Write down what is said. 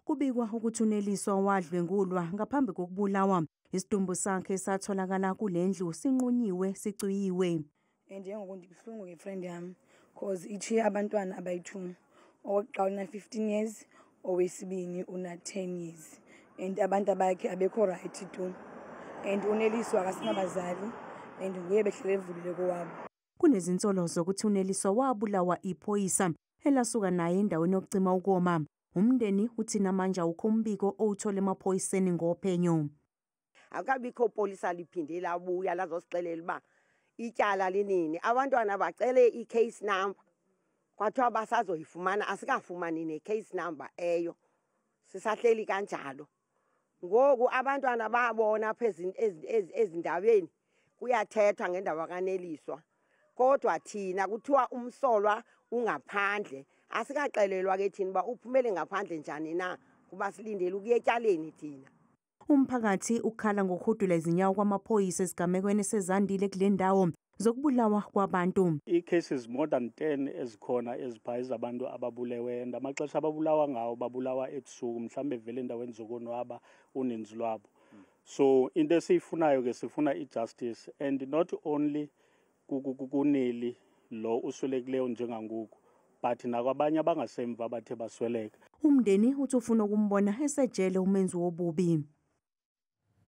Kubikwa ukuthi uNeliswa wadlwengulwa ngaphambi kokubulawa. Isidumbu sakhe satholakala kule ndlu sinqunyiwe sicwiyiwe. And njengoku ndibuhlungu ngefriend yami cause ichiye abantwana abayi-two owokuqala una-fifteen years owesibini una-ten years and abantu abakhe abekho right tu and uneliswa akasinabazali and nguye behlele evulile kowabo Kunezinsolo zokuthi uNeliswa wabulawa iphoyisa elasuka naye endaweni yokucima ukoma. Umndeni uthi namanje awukho umbiko owuthole emaphoyiseni ngophenyo. Akukabikho polisa liphinde labuya lazosixelela uba ityala linini. Abantwana bacele i-case number kwathiwa basazoyifumana, asikafumani ne-case number eyo. Sisahleli kanjalo. ngoku abantwana babona apha ezindaweni kuyathethwa ngendaba kaneliswa kodwa thina kuthiwa umsolwa ungaphandle asikaxelelwa ke thina uba uphumele ngaphandle njani na kuba silindele ukuya etyaleni thina Umphakathi ukhala ngokuhudula izinyawo kwamaphoyisa esigamekweni sezandile kule ndawo zokubulawa kwabantu. Ii-cases more than 10 ezikhona ezipha ezabantu ababulewe and amaxesha ababulawa ngawo babulawa ebusuku mhlawumbe vele endaweni zokonwaba uninzi lwabo. So into esiyifunayo ke sifuna i-justice and not only kuneli lo uswelekileyo njengangoku but nakwabanye abangasemva abathe basweleka. Umndeni uthi ufuna ukumbona esejele umenzi wobubi.